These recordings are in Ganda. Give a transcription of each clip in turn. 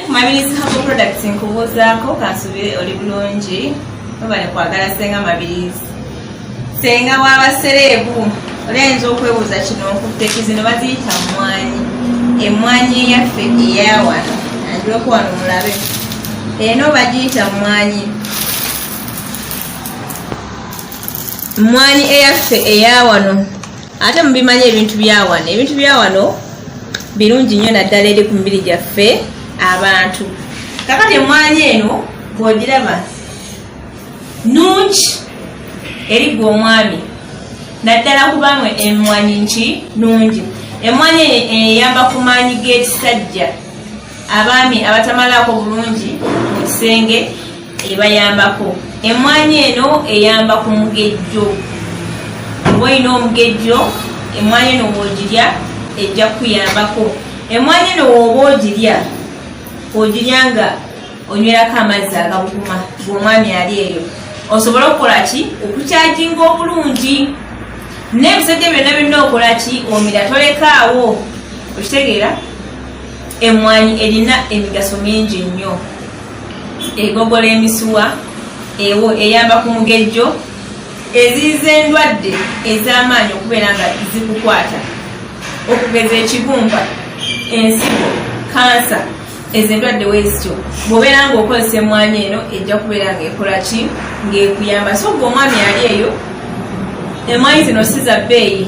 Mabirizi Herbal Products nkubuuzaako kansubire oli bulungi webale kwagala senga Mabirizi senga waba sereebu olayinza okwebuuza kino nkutteki zino baziyita mmwanyi emmwanyi eyaffe eyawano anjuleko wano mulabe eno bagiyita mmwanyi mmwanyi eyaffe eyawano ate mubimanyi ebintu byawano ebintu byawano birungi nnyo naddala eri ku mibiri gyaffe abantu kakati emwanyi eno bwogiraba nungi eri gwe omwami naddala kubanga emwanyi nki nungi emwanyi eyamba ku maanyi g'ekisajja abaami abatamalaako bulungi mu kisenge ebayambako emmwanyi eno eyamba ku mugejjo oba olina omugejjo emmwanyi eno woogirya ejja kukuyambako emmwanyi eno wooba ogirya ogirya nga onywerako amazzi agabukuma ngaomwami ali eyo osobola okukola ki okukyajinga obulungi n'ebisajja byonna byonna okola ki omira tolekaawo okitegeera Emmwanyi erina emigaso mingi nnyo. Egogola emisuwa, ewo eyamba ku mugejjo, eziyiza endwadde ez'amaanyi okubeera nga zikukwata okugeza ekibumba, ensigo, kansa, ezo endwadde wezityo bwobeera nga okozesa emwanyi eno ejja kubeera nga ekola ki ngaekuyamba so gwe omwami ali eyo emwanyi zino si za bbeeyi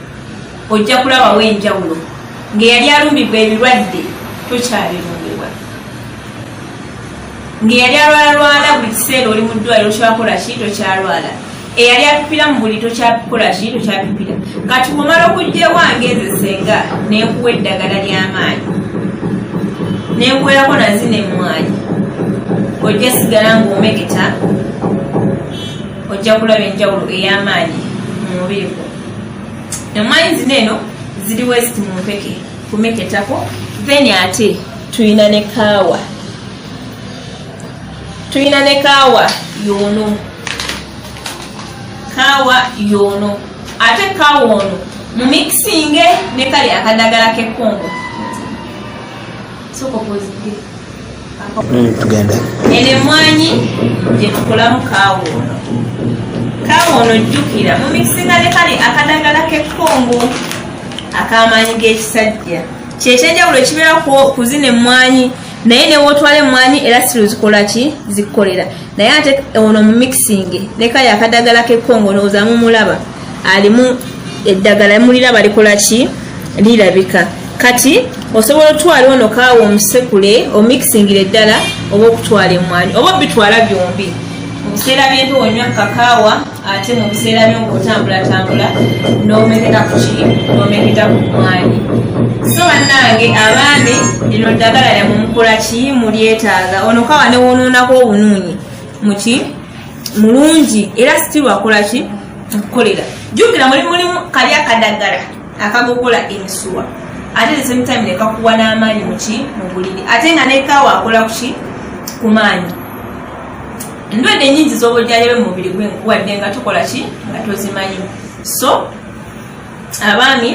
ojja kulabawo enjawulo ng'eyali alumbibwa ebirwadde tokyabirundibwa ng'eyali alwalalwala buli kiseera oli mu ddwaliro okyakola ki tokyalwala eyali apipira mu buli tokyakola ki tokyapipira kati kumala okujja ewange nze senga nekuwa eddagala ly'amaanyi nekuwerako nazina emmwanyi ojja sigala ng'omeketa ojja kulaba enjawulo ey'amaanyi mu mubiri gwo emanyi zino eno ziri west mumpeke kumeketako then ate tulina ne kaawa tulina ne kaawa yoono kaawa yoono ate kaawa ono mu mixinge ne kali akadagala k'ekkongo tugende eno emwanyi gyetukulamu kaawa ono kaawa ono jjukira mumikisinga ne kale akadagala kekkongo akamaanyi g'ekisajja kyekyenjawulo ekibeera ku zino emmwanyi naye newotwala emmwanyi era siruzikola ki zikukolera naye ate ono mu mixing leka yakadagala kekongo olowooza mumulaba alimu eddagala mulira balikola ki lirabika kati osobola otwala ono kaawa omusekule omixingira eddala oba okutwala emwanyi oba obitwala byombi mubiseera byembi wonywa kakaawa ate mu biseera by'okutambulatambula n'omeketa ku ki n'omeketa ku mwanyi so bannange abaami lino ddagala lyamumukola kiyi mulyetaaga ono kawa newonoonako obunuunyi muki mulungi era sitiru akola ki okukolera jjukira muli mulimu kali akadaggala akagogola emisuwa ate the same time nekakuwa n'amaanyi muki mu buliri ate nga nekawa akola kuki ku maanyi endwadde enyingi z'obujjanjabi mu mubiri gwe nkuwadde nga tukola ki nga tozimanyi so abaami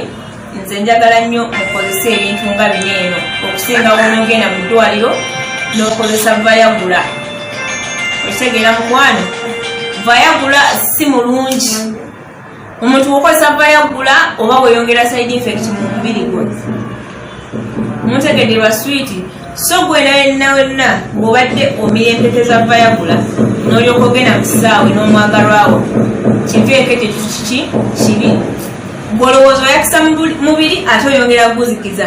nze njagala nnyo mukozesa ebintu nga bino eno okusinga wonogenda mu ddwaliro n'okozesa vayagula okitegeera mukwano vayagula si mulungi omuntu wokozesa vayaggula oba weyongera side effect mu mubiri gwe mutegedelwa switi so gwena wenna wenna ng'obadde omiyempeteza vayaggula n'olyoka ogenda mu kisaawe n'omwagalwawo kiva ekekyo kiki kibi gwolowooza oyakisa mubiri ate oyongera guzikiza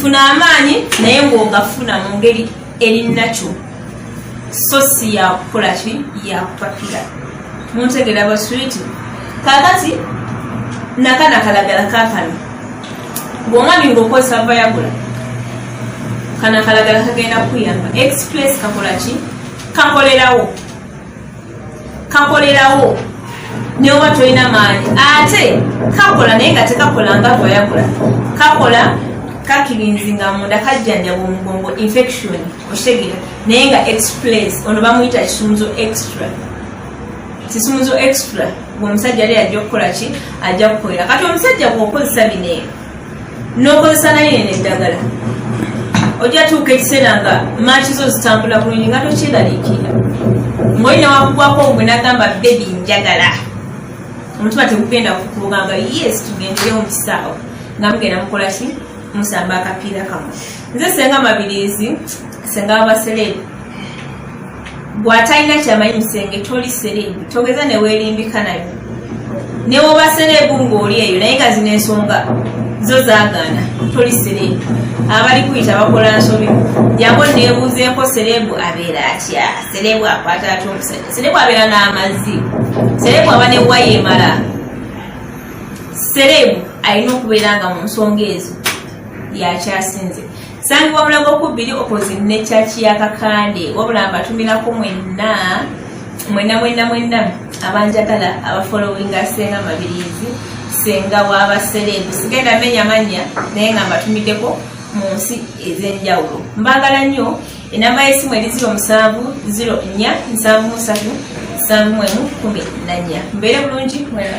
funa amaanyi naye ng'ogafuna mu ngeri eri nakyo so si yakukola ki yakupakira muntegera baswiti kakati nakana kalagala kakano bwomwami ngaokozesa vayagula kana kalagala kagenda kuyamba express kakola ki kakolerawo kakolerawo neoba tolina maanyi ate kakola naye nga tekakola nga gwayakola kakola kakirinzi nga munda kajjanjaba omugongo infection okitegera naye nga express ono bamuyita kisumuzo extra kisumuzo extra gwe omusajja ali ajja okukola ki ajja kukolera kati omusajja gweokozesa bineeno nokozesa naye eno eddagala ojja tuuka ekiseera nga maaki zo zitambula bulungi nga tokyeraliikira ngaolina wakugwako ogwe nagamba bebi njagala omutima tegugenda kukugamba yes tugendeyo mukisaawa nga mugenda mukolaki musamba akapiira kamwe nze senga mabirizi senga abasereebu bwatalina kyamanyi musenge toli sereebu togeza newerimbika nayo newoba sereebu ngaoli eyo naye nga zina ensonga zo zagaana toli sereebu abali kuyita bakola nsobi jangu nebuuzeeko sereebu abeera atya sereebu akwata ati omusajja sereebu abeera n'amazzi sereebu aba newaya emala sereebu alina okubeera nga mu nsonga ezo yakyasinze sangibwa mulago kubiri opposite ne kyaki ya kakande wabula mbatumirako mwenna mwenna mwenna mwenna abanjagala abafolowinga senga mabirizi senga wabasereebu sigenda menya manya naye nga mbatumiddeko mu nsi ez'enjawulo mbaagala nnyo enamba y'essimu eri 074737 mbeere bulungi mwena